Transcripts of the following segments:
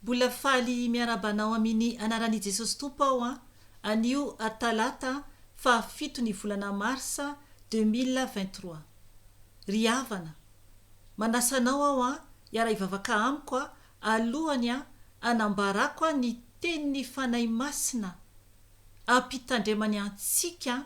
Mbola faly miarahaba anao amini anarani Jesosy Tompo aho an, anio Talata faha fito ny volana Marsa deux mille vingt trois. Ry havana. Manasa anao aho an hiara hivavaka amiko an alohany an anambarako an ny tenini Fanahy Masina ampitandremany antsika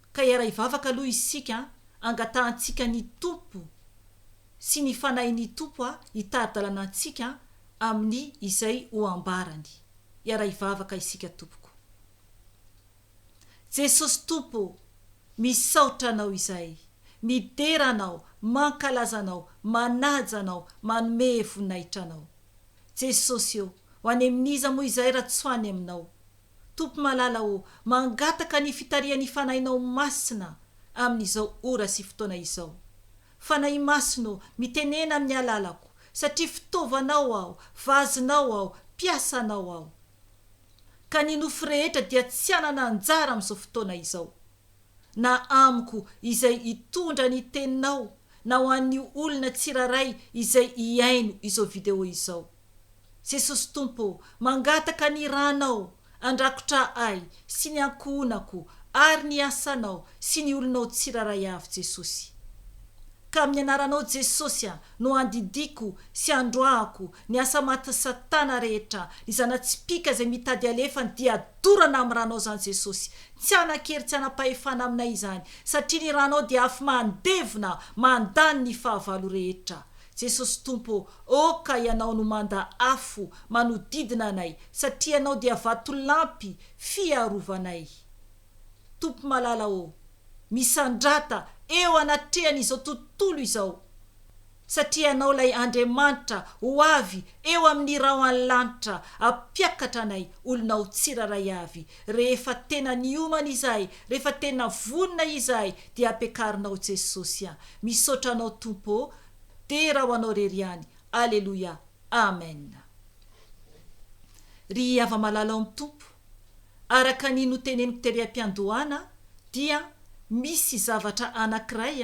Ka hiara-hivavaka aloha isika an, angatahantsika ny Tompo sy ny Fanahin'ny Tompo hitari-dalana antsika amin'ny izay ho ambarany. Hiara-hivavaka isika tompoko. Jesosy Tompo ô, misaotra Anao izay midera Anao, mankalaza Anao, manaja Anao, manome voninahitra Anao. Jesosy ô, ho any amin'iza moa izay raha tsy ho any Aminao. Tompo malala ô, mangataka ny fitarihan'ny Fanahinao Masina amin'izao ora sy fotoana izao. Fanahy Masina ô, mitenena amin'ny alalako, satria fitaovanao aho, vazinao aho, mpiasanao aho. Ka ny nofy rehetra dia tsy hanana anjara amin'izao fotoana izao. na amiko izay hitondra ny teninao na ho an'ny olona tsiraray izay hihaino izao video izao. Jesosy Tompo ô, mangataka ny Ranao handrakotra ahy sy ny ankohonako ary ny asanao sy ny olonao tsiraray avy Jesosy. Ka amin'ny anaranao Jesosy a no andidiako sy androahako ny asa matin'i satana rehetra, ny zana-tsipìka izay mitady alefa ny dia dorana amin'ny Ranao izany Jesosy, Tsy hanan-kery tsy hanam-pahefana aminay izany, satria ny ranao dia afo mandevona mandany ny fahavalo rehetra. Jesosy Tompo ô, ô ka Ianao no manda afo manodidina anay, satria Ianao dia vatolampy fiarovanay. Tompo malala ô, misandrata eo anatrehan'izao tontolo izao. Satria Ianao ilay Andriamanitra ho avy eo amin'ny rahon'ny lanitra hampiakatra anay olonao tsirairay avy. Rehefa tena niomana izahay, rehefa tena vonona izahay dia ampiakarinao Jesosy an. Misaotra Anao Tompo ô. Dera ho Anao rery ihany. Aleloia. Amen. Ry hava-malala ao amin'ny Tompo, araka ny noteneniko tery am-piandohana dia misy zavatra anankiray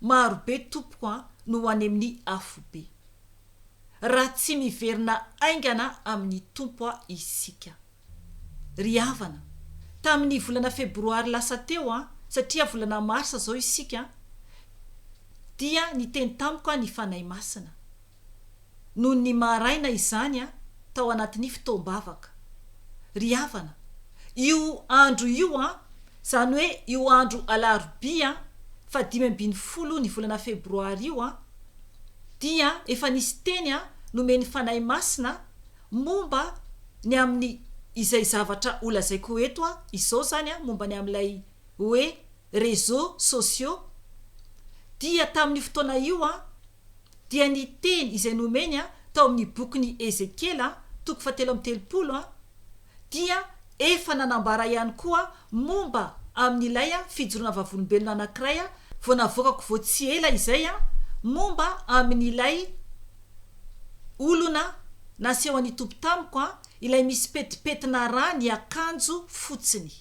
Maro be tompoko an no any amin'ny afobe. Raha tsy miverina aingana amin'ny Tompo an isika. Ry havana, tamin'ny volana febroary lasa teo an, satria volana marsa zao isika an, dia niteny tamiko an ny Fanahy Masina. noho ny maha raina izany aho tao anatin'ny fotoam-bavaka. Ry havana, io andro io an, izany hoe io andro alarobia fahadimy ambin'ny folo ny volana febroary io an, dia efa nisy teny an nomen'ny Fanahy Masina momba ny amin'ny izay zavatra ho lazaiko eto an, izao izany an, momba ny amin'ilay hoe réseaux sociaux, dia tamin'io fotoana io an, dia ny teny izay nomeny tao amin'ny bokin'i Ezekiela, toko fahatelo amby telopolo, dia efa nanambara ihany koa momba amin'ilay fijoroana vavolombelona anankiray vao navoakako vao tsy ela izay momba amin'ilay olona nasehon'ny Tompo tamiko, ilay misy petipetina rà ny akanjo fotsiny.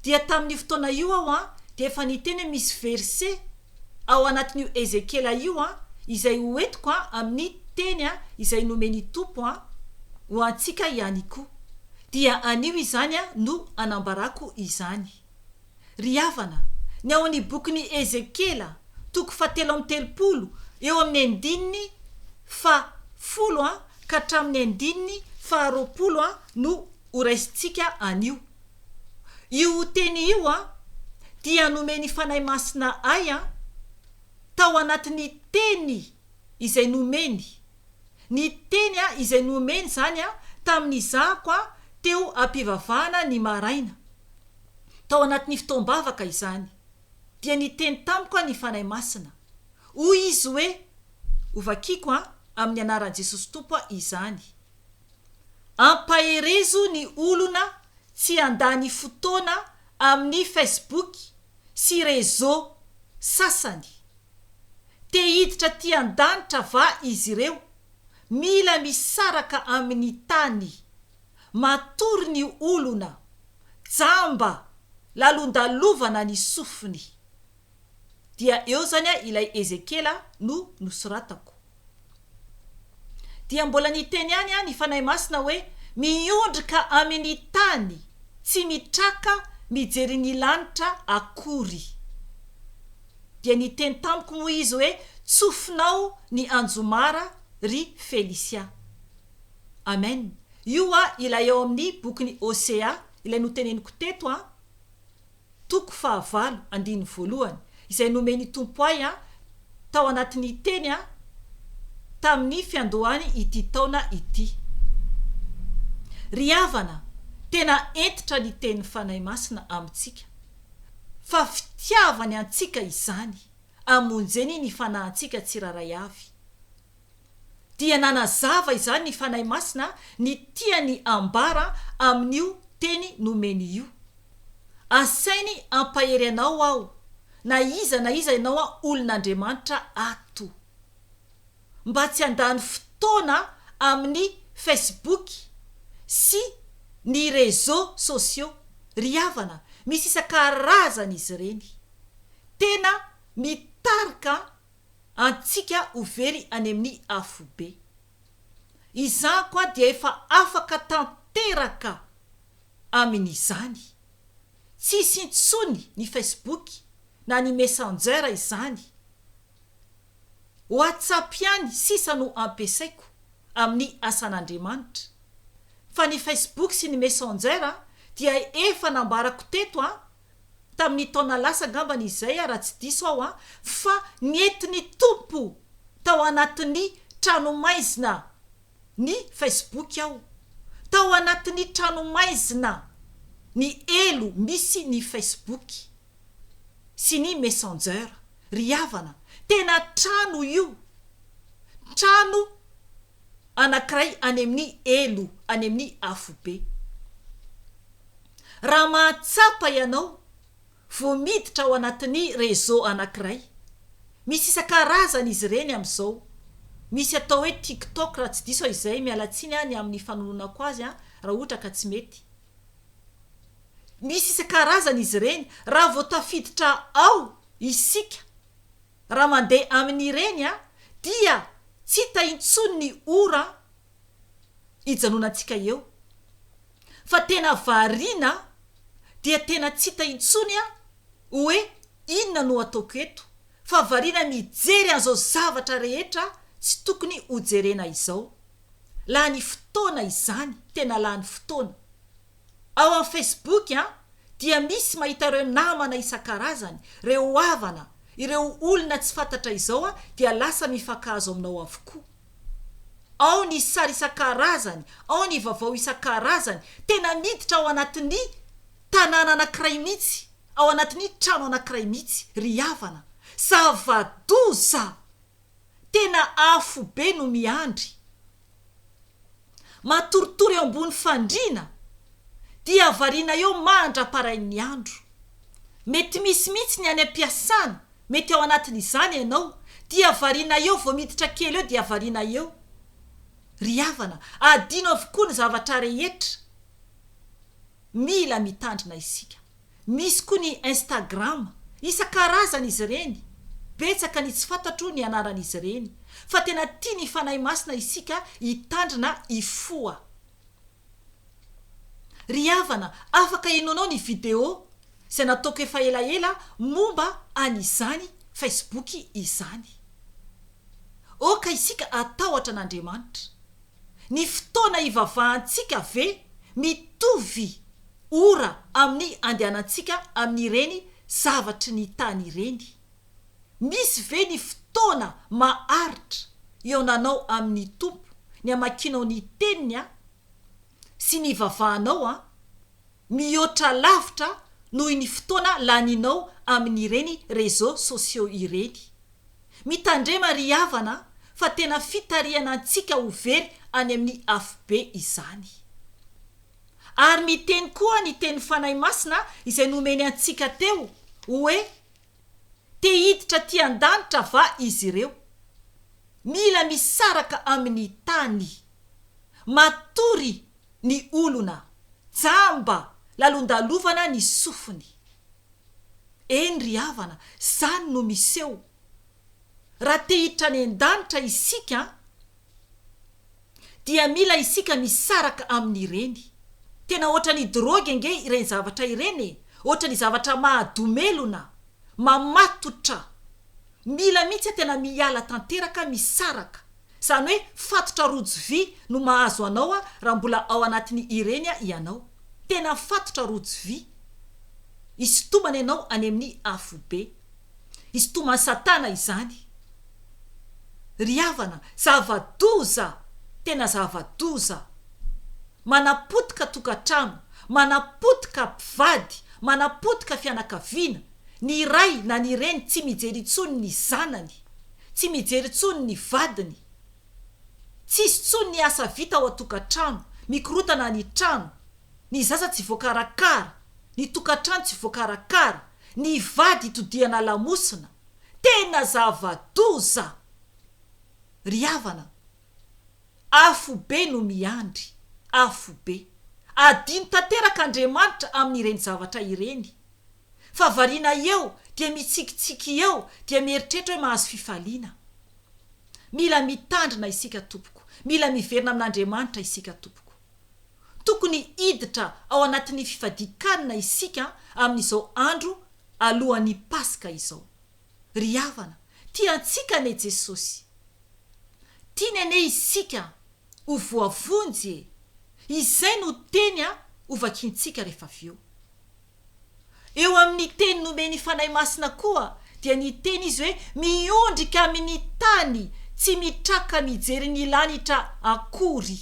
Dia tamin'io fotoana io aho dia efa niteny hoe misy verse ao anatin'io Ezekiela io izay ho entiko amin'ny teny izay nomen'ny Tompo ho antsika ihany koa. Dia anio izany no anambarako izany. Ry havana, ny ao amin'ny bokin'i Ezekiela, toko fahatelo amby telopolo, eo amin'ny andininy faha folo ka hatramin'ny andininy faha roapolo no ho raisintsika anio. Io teny io an, dia nomen'ny Fanahy Masina ahy an, tao anatin'ny teny izay nomeny, ny teny an izay nomeny izany an tamin'ny zako an teo am-pivavahana ny maraina, tao anatin'ny fotoam-bavaka izany, dia niteny tamiko an ny Fanahy Masina. Hoy Izy hoe, Hovakiko an, amin'ny anaran'i Jesosy Tompo an izany. Ampaherezo ny olona tsy handany fotoana amin'ny Facebook sy réseaux sasany. Te hiditra aty an-danitra va izy ireo? Mila misaraka amin'ny tany. Matory ny olona. Jamba. Lalondalovana ny sofiny. dia eo zany ilay Ezekiela no nosoratako. Dia mbola niteny ihany ny Fanahy Masina hoe miondrika amin'ny tany tsy mitraka mijery ny lanitra akory. Dia niteny tamiko moa izy hoe tsofinao ny anjomara ry Felicia. Amen. Io ilay ao amin'ny bokin'i Hosea ilay noteneniko teto an. Toko fahavalo, andininy voalohany, izay nomen'i Tompo ahy an, tao anatin'ny teny an, tamin'ny fiandohany ity taona ity. Ry havana, tena hentitra ny tenin'ny Fanahy Masina amintsika, fa fitiavany antsika izany, amonjeny ny fanahintsika tsirairay avy. dia nanazava izany ny Fanahy Masina ny tiany ambara amin'io teny nomeny io, Asainy hampahery anao aho, na iza na iza ianao an olon'Andriamanitra ato. Mba tsy handany fotoana amin'ny Facebook sy ny réseaux sociaux ry havana, misy isan-karazany izy ireny. Tena mitarika an. antsika ho very any amin'ny afobe. Izaho koa dia efa afaka tanteraka amin'izany. Tsy hisy intsony ny Facebook na ny Messenger izany. WhatsApp ihany sisa no ampiasaiko amin'ny asan'Andriamanitra. Fa ny Facebook sy ny Messenger dia efa nambarako teto an! tamin'ny taona lasa angambany izay a, raha tsy diso aho an, fa nentin'ny Tompo tao anatin'ny tranomaizina ny Facebook aho, tao anatin'ny tranomaizina ny elo misy ny Facebook sy ny Messenger. Ry havana, tena trano io, trano anankiray any amin'ny elo, any amin'ny afobe. Raha mahatsapa ianao vao miditra ao anatin'ny réseau anankiray, misy isan-karazany izy ireny amin'izao, misy atao hoe tiktok raha tsy diso aho izay, miala tsiny aho ny amin'ny fanononako azy an, raha ohatra ka tsy mety, misy isan-karazany izy ireny, raha vao tafiditra ao isika, raha mandeha amin'ireny an, dia tsy hita intsony ny ora an, hijanonantsika eo fa tena variana dia tena tsy hita intsony aho hoe inona no ataoko eto fa variana mijery an'izao zavatra rehetra tsy tokony hojerena izao. Lany fotoana izany, tena lany fotoana. Ao amin'ny Facebook an dia misy mahita ireo namana isan-karazany, ireo havana, ireo olona tsy fantatra izao dia lasa mifankahazo aminao avokoa. ao ny sary isan-karazany, ao ny vaovao isan-karazany, tena miditra ao anatin'ny tanàna anankiray mihitsy, ao anatin'ny trano anankiray mihitsy ry havana. Zava-doza! Tena afobe no miandry. matoritory eo ambony fandriana dia variana eo mandra-parain'ny andro. Mety misy mihitsy ny any am-piasana mety ao anatin'izany ianao dia variana eo vao miditra kely eo dia variana eo. Ry havana, adino avokoa ny zavatra rehetra. Mila mitandrina isika. Misy koa ny Instagram. Isan-karazany izy ireny. Betsaka ny tsy fantatro ny anaran'izy ireny. Fa tena tia ny Fanahy Masina isika hitandrina hifoha. Ry havana, afaka henoanao ny video izay nataoko efa elaela momba an'izany Facebook izany. Aoka isika hatahotra an'Andriamanitra. Ny fotoana ivavahantsika ve mitovy ora amin'ny andehanantsika amin'ireny zavatry ny tany ireny? Misy ve ny fotoana maharitra ionanao amin'ny Tompo, ny amakianao ny Teniny sy ny ivavahanao? Mihoatra lavitra noho ny fotoana laninao amin'ireny réseaux sociaux ireny. Mitandrema ry havana fa tena fitarihana antsika ho very any amin'ny afobe izany. Ary miteny koa ny teny Fanahy Masina izay nomeny antsika teo hoe te hiditra aty an-danitra va izy ireo? Mila misaraka amin'ny tany. Matory ny olona, jamba, lalondalovana ny sofiny. Eny ry havana, zany no miseho raha te hiditra any an-danitra isika an! Dia mila isika misaraka amin'ireny. Tena ohatran'ny drogue ange ireny zavatra ireny e! Ohatran'ny zavatra mahadomelona, mamatotra. Mila mihitsy tena miala tanteraka, misaraka. Izany hoe fatotra rojo vy no mahazo anao raha mbola ao anatin'ny ireny ianao. Tena fatotra rojo vy. Isintomana ianao any amin'ny afobe. Isintoman'i Satana izany. Ry havana, zava-doza! Tena zava-doza! Manapotika tokantrano, manapotika mpivady, manapotika fianakaviana, ny ray na ny reny tsy mijery intsony ny zanany. Tsy mijery intsony ny vadiny. Tsisy intsony ny asa vita ao an-tokantrano. Mikorotana ny trano. Ny zaza tsy voakarakara. Ny tokantrano tsy voakarakara. Ny vady itodihana lamosina. Tena zava-doza! Ry havana! Afobe no miandry, afobe. Adino tanteraka Andriamanitra amin'ireny zavatra ireny. Fa variana eo dia mitsikitsiky eo dia mieritreritra hoe mahazo fifaliana. Mila mitandrina isika tompoko, mila miverina amin'Andriamanitra isika tompoko. Tokony hiditra ao anatin'ny fifadian-kanina isika amin'izao andro alohan'ny Paska izao. Ry havana, tia antsika anie Jesosy. Tiany anie isika ho voavonjy e! Izay no teny hovakintsika rehefa avy eo. Eo amin'ny teny nomen'ny Fanahy Masina koa dia niteny izy hoe miondrika amin'ny tany tsy mitraka mijery ny lanitra akory.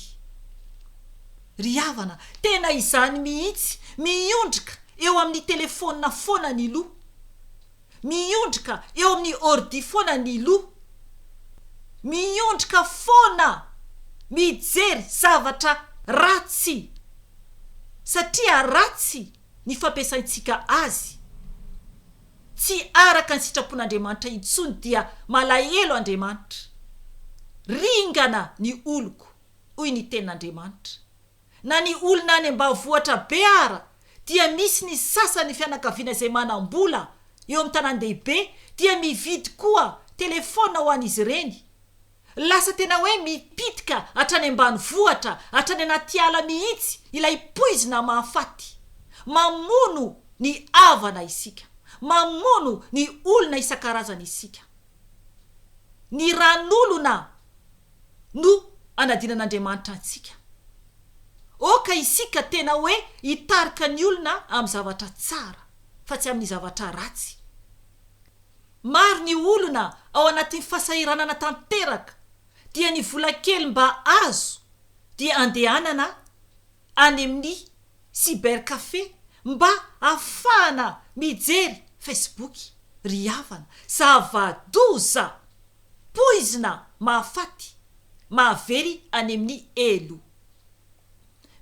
Ry havana, tena izany mihitsy, miondrika eo amin'ny telefonina foana ny loha. Miondrika eo amin'ny ordi foana ny loha. Miondrika foana mijery zavatra ratsy satria ratsy ny fampiasaintsika azy. Tsy araka ny sitrapon'Andriamanitra intsony dia malahelo Andriamanitra. Ringana ny oloko, hoy ny Tenin'Andriamanitra. Na ny olona any ambavohitra be ara dia misy ny sasany fianakaviana izay manam-bola eo amin'ny tanàn-dehibe dia mividy koa telefaona ho an'izy ireny. Lasa tena hoe mipitika hatrany ambanivohitra, hatrany anaty ala mihitsy ilay poizina mahafaty. Mamono ny havana isika. Mamono ny olona isan-karazany isika. ny ran'olona no anadinan'Andriamanitra antsika. Oka isika tena hoe hitarika ny olona amin'ny zavatra tsara fa tsy amin'ny zavatra ratsy. Maro ny olona ao anatin'ny fasahiranana tanteraka dia ny vola kely mba azo dia andehanana any amin'ny cybercafé mba hahafahana mijery Facebook ry havana. Zava-doza! Poizina mahafaty, mahavery any amin'ny helo.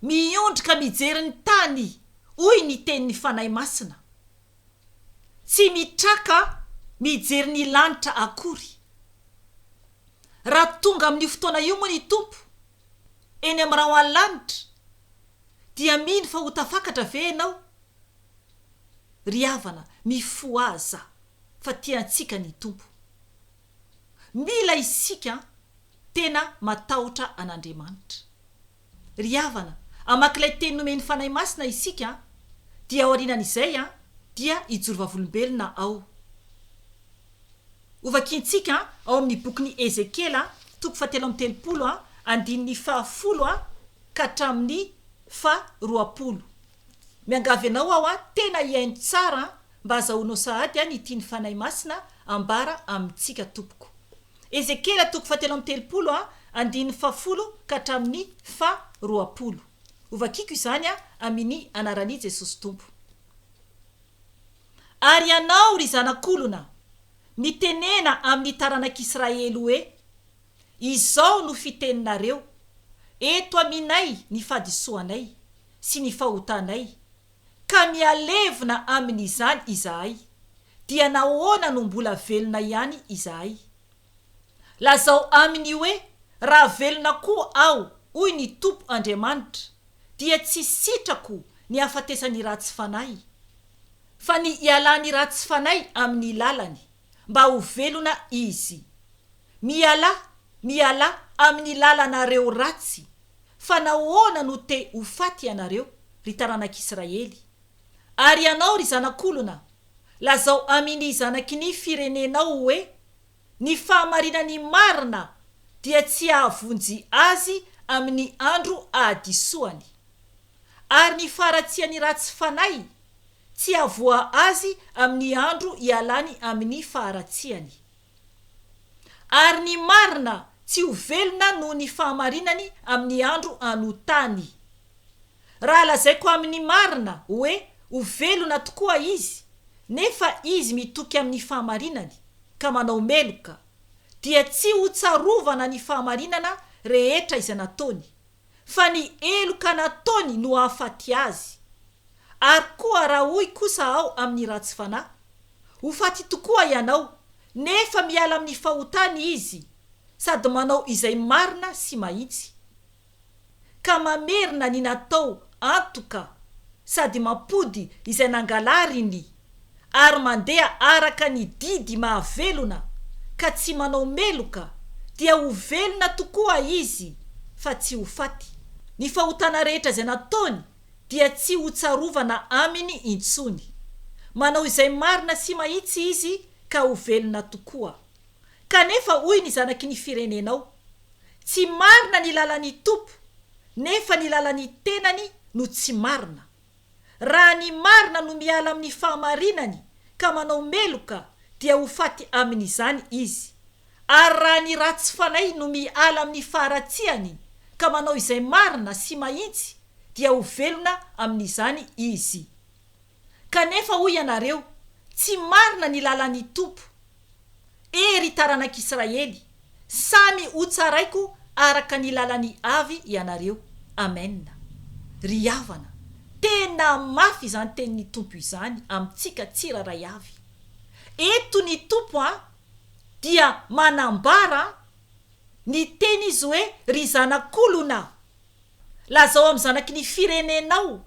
Miondrika mijery ny tany hoy ny tenin'ny Fanahy Masina. Tsy mitraka mijery ny lanitra akory. Raha tonga amin'io fotoana io moa ny Tompo. eny amin'ny rahon'ny lanitra, dia mino fa ho tafakatra ve ianao? Ry havana, mifohaza! fa tia antsika ny Tompo. Mila isika tena matahotra an'Andriamanitra. Ry havana, hamaky ilay teny nomen'ny Fanahy Masina isika, dia aorianan'izay dia hijoro vavolombelona ao. Hovakiantsika ao amin'ny bokin'i Ezekiela, toko fahatelo amby telopolo, andininy fahafolo ka hatramin'ny faharoapolo. Miangavy anao aho tena hihaino tsara mba hazahoanao sahady ny tian'ny Fanahy Masina ambara amintsika tompoko. Ezekiela toko fahatelo amby telopolo andininy fahafolo ka hatramin'ny faharoapolo. Hovakiako izany amin'i anaran'i Jesosy Tompo. Ary ianao, ry zanak'olona, mitenena amin'ny taranak'Israely hoe, Izao no fiteninareo, Eto aminay ny fadisoanay sy ny fahotanay, ka mihalevona amin'izany izahay, dia nahoana no mbola velona ihany izahay? Lazao aminy hoe, Raha velona koa aho, hoy ny Tompo Andriamanitra, dia tsy sitrako ny hahafatesan'ny ratsy fanahy, fa ny hialan'ny ratsy fanahy amin'ny lalany, mba ho velona izy. Mialà, mialà amin'ny lalanareo ratsy, fa nahoana no te ho faty ianareo, ry taranak'Israely? Ary ianao, ry zanak'olona, lazao amin' ny zanaky ny firenenao hoe, Ny fahamarinany marina dia tsy hahavonjy azy amin' ny andro ahadisoany, ary ny faharatsian' ny ratsy fanahy tsy hahavoa azy amin' ny andro ialany amin' ny faharatsiany. Ary ny marina tsy ho velona noho ny fahamarinany amin' ny andro anotany. Raha lazaiko amin'ny marina hoe ho velona tokoa izy, nefa izy mitoky amin'ny fahamarinany ka manao meloka, dia tsy hotsarovana ny fahamarinana rehetra izay nataony, fa ny heloka nataony no hahafaty azy. Ary koa raha hoy kosa aho amin'ny ratsy fanahy, Ho faty tokoa ianao, nefa miala amin'ny fahotany izy, sady manao izay marina sy mahitsy, ka mamerina ny natao antoka sady mampody izay nangalariny ary mandeha araka ny didy mahavelona ka tsy manao meloka dia ho velona tokoa izy fa tsy ho faty, ny fahotana rehetra izay nataony dia tsy ho tsarovana aminy intsony, manao izay marina sy mahitsy izy ka ho velona tokoa. Kanefa hoy ny zanaky ny firenenao, Tsy marina ny lalan'ny Tompo, nefa ny lalan'ny tenany no tsy marina. Raha ny marina no miala amin'ny fahamarinany ka manao meloka, dia ho faty amin'izany izy. Ary raha ny ratsy fanahy no miala amin'ny faharatsiany ka manao izay marina sy mahitsy, dia ho velona amin'izany izy. Kanefa hoy ianareo, Tsy marina ny lalan'ny Tompo. E ry taranak'Israely, samy hotsaraiko araka ny lalany avy ianareo. Amena. Ry havana, tena mafy izany tenin'ny Tompo izany amintsika tsirairay avy. Eto ny Tompo an, dia manambara ny teny izy hoe, Ry zanak'olona! Lazao amin'ny zanaky ny firenenao,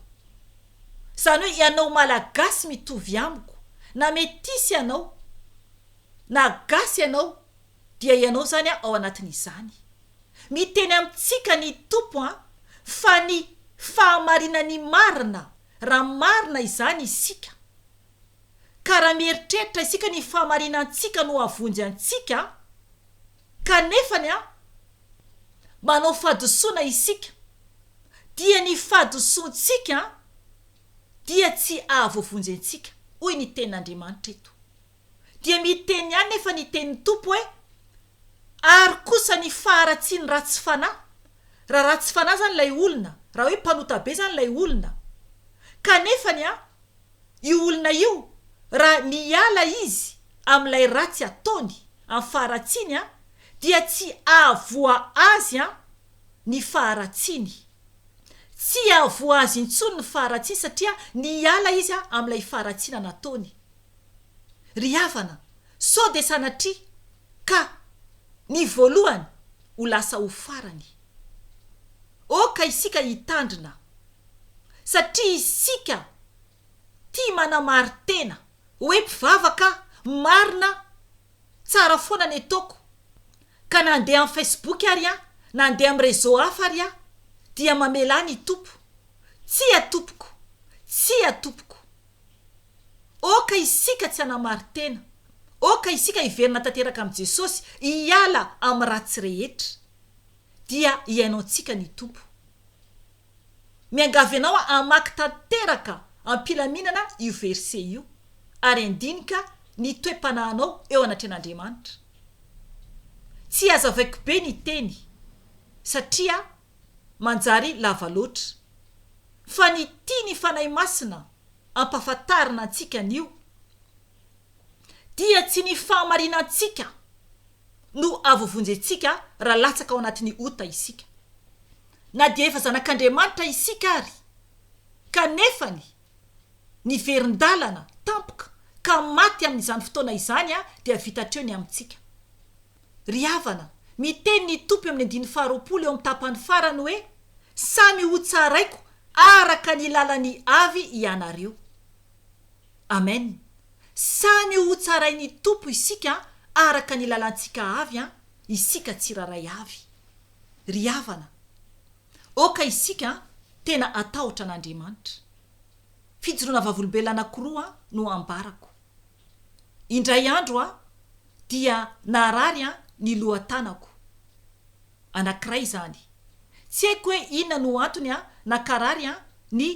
izany hoe ianao Malagasy mitovy amiko, na metisy ianao, na gasy ianao, dia ianao izany an ao anatin'izany. Miteny amintsika ny Tompo an, fa ny fahamarinan'ny marina, raha marina izany isika, ka raha mieritreritra isika ny fahamarinantsika no havonjy antsika, Kanefa ny ahy, manao fahadisoana isika, dia ny fahadisoantsika dia tsy ahavoavonjy antsika, hoy ny Tenin'Andriamanitra eto. Dia miteny ihany nefa ny Tenin'ny Tompo hoe, Ary kosa ny faharatsian'ny ratsy fanahy, raha ratsy fanahy izany ilay olona, raha hoe mpanota be izany ilay olona, kanefa ny ahy, io olona io raha miala izy amin'ilay ratsy ataony amin'ny faharatsiany an, dia tsy ahavoa azy an ny faharatsiany. Tsy ahavoa azy intsony ny faharatsiany satria niala izy an amin'ilay faharatsiana nataony. Ry havana, sao dia sanatria ka ny voalohany ho lasa ho farany. Oka isika hitandrina satria isika tia manamarin-tena hoe mpivavaka marina tsara foana ny ataoko ka na andeha amin'ny Facebook ary aho na andeha amin'ny réseau hafa ary aho dia mamelà ny Tompo tsia tompoko tsia tompoko oka isika tsy hanamarin-tena oka isika hiverina tanteraka amin'i Jesosy hiala amin'ny ratsy rehetra dia hiainantsika ny Tompo. Miangavy anao hamaky tanteraka am-pilaminana io verset io ary handinika ny toe-panahinao eo anatrehan'Andriamanitra. Tsy hazavaiko be ny teny satria manjary lava loatra fa ny tian'ny Fanahy Masina ampahafantarina antsika anio dia tsy ny fahamarinantsika, no ahavovonjentsika raha latsaka ao anatin'ny ota isika. Na dia efa zanak'Andriamanitra isika ary, kanefany niverin-dalana tampoka ka maty amin'izany fotoana izany dia vita hatreo ny amintsika. Ry havana, miteny ny Tompo eo amin'ny andininy faharoapolo eo amin'ny tapany farany hoe, Samy hotsaraiko araka ny lalan'ny avy ianareo. Amen samy ho tsarainy Tompo isika araka ny lalantsika avy an isika tsiraray avy ry havana oka isika an tena atahotra an Andriamanitra fijoroana vavolombelona anakoroa no ambarako indray andro an dia naharary an ny loha tanako anakiray zany tsy haiko hoe inona no antony an nakarary an ny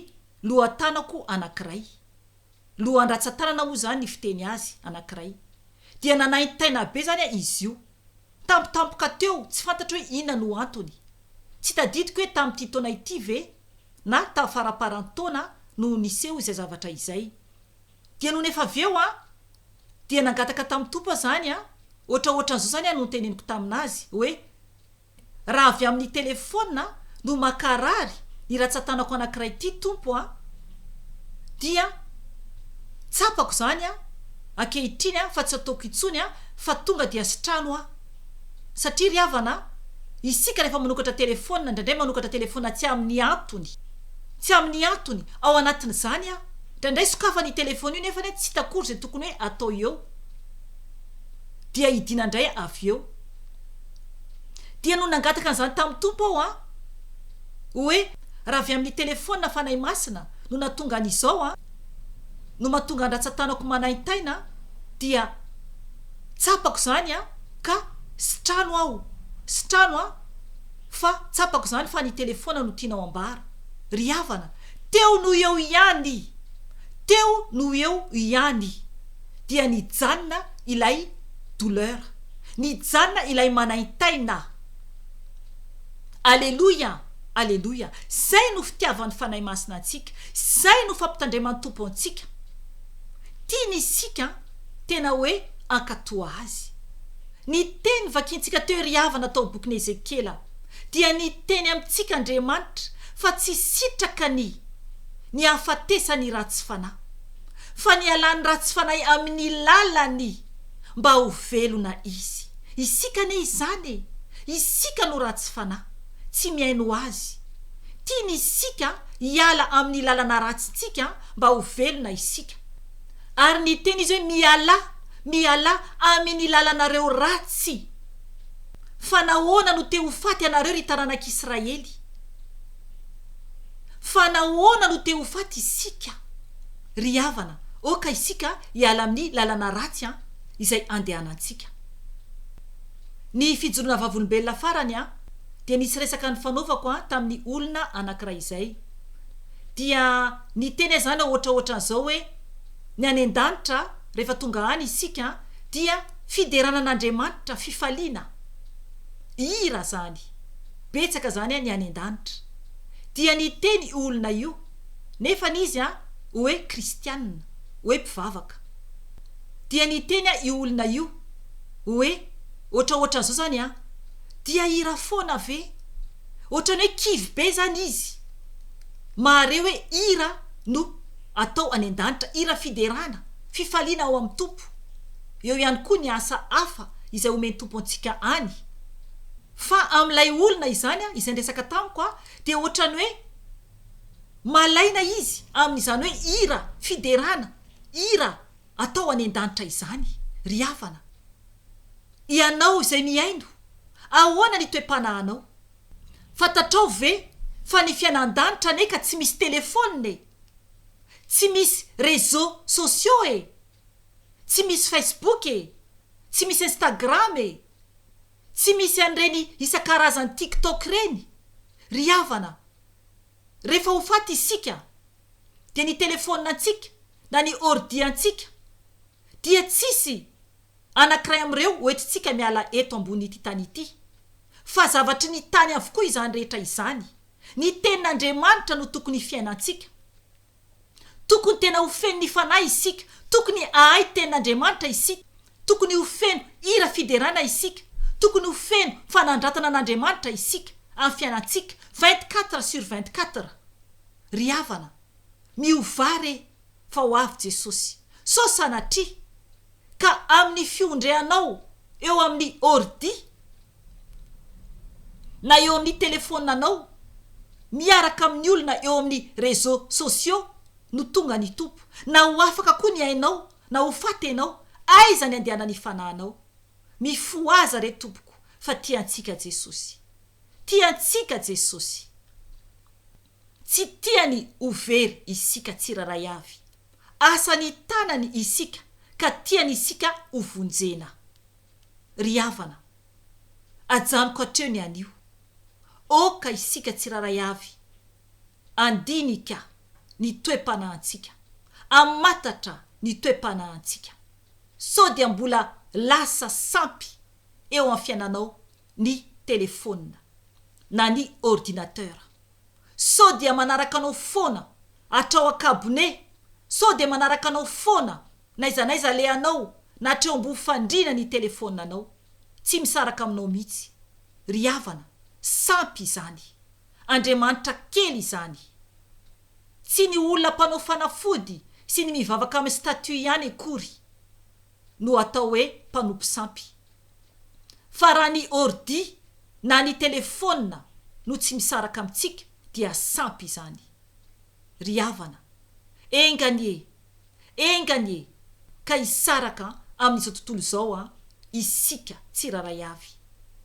lohatanako anankiray, lohan-dratsan-tanana moa izany ny fiteny azy, anankiray. Dia nanaintaina be izany izy io. Tampotampoka teo, tsy fantatro hoe inona no antony. Tsy tadidiko hoe tamin'ity taona ity ve na tamin'ny faramparan-taona no niseho izay zavatra izay. Dia nony efa avy eo an, dia nangataka tamin'i Tompo aho izany an, hoatra hoatran'izao izany no noteneniko tamin'azy hoe, Raha avy amin'ny telefaonina no mankarary ny ratsatanako anankiray ity Tompo a! dia tsapako izany a! ankehitriny a! fa tsy ataoko intsony a! fa tonga dia sitrano a! satria ry havana a! isika rehefa manokatra telefaonina indraindray manokatra telefaonina tsy amin'ny antony tsy amin'ny antony ao anatin'izany a! indraindray sokafana io telefaonina io nefany a! tsy hita akory izay tokony hoe atao eo dia hidiana indray avy eo Dia no nangataka an'izany tamin'ny Tompo aho an! Hoe raha avy amin'ny telefaonina Fanahy Masina no nahatonga an'izao an! no mahatonga an-dRatsatanako manaintaina an! dia tsapako izany an! ka sitrano aho, sitrano an! fa tsapako izany fa ny telefaonina no tianao ambara. Ry havana, teo no eo ihany i! teo no eo ihany i! dia nijanona ilay douleur. Nijanona ilay manaintaina. Aleloia! Aleloia! Izay no fitiavan'ny Fanahy Masina antsika. Izay no fampitandreman'ny Tompo antsika. Tiany isika tena hoe hankatò Azy. Ny teny vakintsika teo ry havana tao bokin'i Ezekiela dia niteny amintsika Andriamanitra fa tsy sitraka ny ny hahafatesany ratsy fanahy, fa nialany ratsy fanahy amin'ny lalan'ny mba ho velona izy. Isika anie izany e! Isika no ratsy fanahy, tsy mihaino Azy. Tiany isika hiala amin'ny lalana ratsintsika mba ho velona isika. Ary ny teny izy hoe mialà, mialà amin'ny lalanareo ratsy. Fa nahoana no te ho faty ianareo ry taranak'Israely? Fa nahoana no te ho faty isika? Ry havana, aoka isika hiala amin'ny lalana ratsy an, izay andehanantsika. Ny fijoroana vavolombelona farany an, dia nisy resaka nifanaovako an tamin'ny olona anankiray izay. Dia niteny ahy izany ohatra ohatran'izao hoe, Ny any an-danitra, rehefa tonga any isika an, dia fiderana an'Andriamanitra, fifaliana. Hira izany. Betsaka izany an ny any an-danitra. Dia niteny io olona io. nefa ny izy an oe kristianina oe mpivavaka dia niteny an io olona io oe otraotran'zao zany an dia hira foana ve otrany oe kivy be zany izy mahare oe hira no atao any an-danitra hira fiderana fifaliana ao amin'ny tompo eo ihany koa ny asa hafa izay omen'ny tompo antsika any fa amin'ilay olona izany an izay niresaka tamiko an dia otrany oe malaina izy amin'izany hoe hira fiderana, hira atao any an-danitra izany, ry havana. Ianao izay mihaino, ahoana ny toe-panahanao? Fantatrao ve fa ny fiainan-danitra anie ka tsy misy telefaonina e! Tsy misy réseaux sociaux e! Tsy misy Facebook e! Tsy misy Instagram e! Tsy misy an'ireny isan-karazany tiktok ireny ry havana a! Rehefa ho faty isika dia ny telefaonina antsika na ny ordi antsika dia tsisy anankiray amin'ireo ho entintsika miala eto ambonin'ity tany ity fa zavatry ny tany avokoa izany rehetra izany, ny tenin'Andriamanitra no tokony hifiainantsika. Tokony tena ho feno ny Fanahy isika, tokony hahay Tenin'Andriamanitra isika, tokony ho feno hira fiderana isika, tokony ho feno fanandratana an'Andriamanitra isika amin'ny fiainantsika vingt quatre sur vingt quatre. Ry havana, miovà re fa ho avy Jesosy. Sao sanatria ka amin'ny fiondreanao eo amin'ny ordi, na eo amin'ny telefonanao miaraka amin'ny olona eo amin'ny réseaux sociaux no tonga ny Tompo na ho afaka koa ny ainao na ho faty ianao aiza ny andehanan'ny fanahinao mifohaza re tompoko fa tia antsika Jesosy tia antsika Jesosy tsy tiany ho very isika tsirairay avy asa ny tanany isika ka tiany isika ho vonjena. Ry havana, ajanoko hatreo ny anio. Oka isika tsirairay avy handinika ny toe-panahintsika, hamatatra ny toe-panahintsika. Sao dia mbola lasa sampy eo amin'ny fiainanao ny telefaonina na ny ordinateur? Sao dia manaraka anao foana hatrao an-kabone? Sao dia manaraka anao foana N'aiza n'aiza alehanao na hatreo ambovo fandriana ny telefonanao. Tsy misaraka aminao mihitsy. Ry havana, sampy izany. Andriamanitra kely izany. Tsy ny olona mpanao fanafody sy ny mivavaka amin'ny statut ihany akory no atao hoe mpanompo sampy. Fa raha ny ordi na ny telefona no tsy misaraka amintsika dia sampy izany. Ry havana, enga anie Enga anie ka hisaraka amin'izao tontolo izao an, isika tsirairay avy,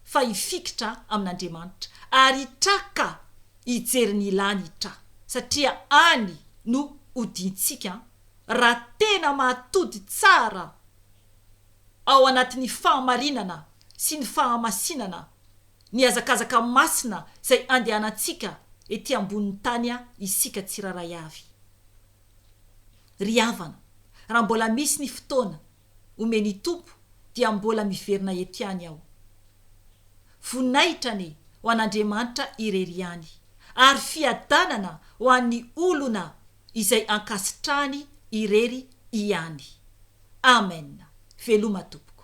fa hifikitra amin'Andriamanitra, ary hitraka hijery ny ilany hitra, satria any no hodiantsika raha tena mahatody tsara ao anatin'ny fahamarinana sy ny fahamasinana ny hazakazaka masina izay andehanantsika ety ambonin'ny tany isika tsirairay avy. Ry havana, raha mbola misy ny fotoana omen'i Tompo dia mbola miverina eto ihany aho. Voninahitra anie ho an'Andriamanitra irery ihany ary fiadanana ho an'ny olona izay ankasitrahany irery ihany. Amen. Veloma tompoko.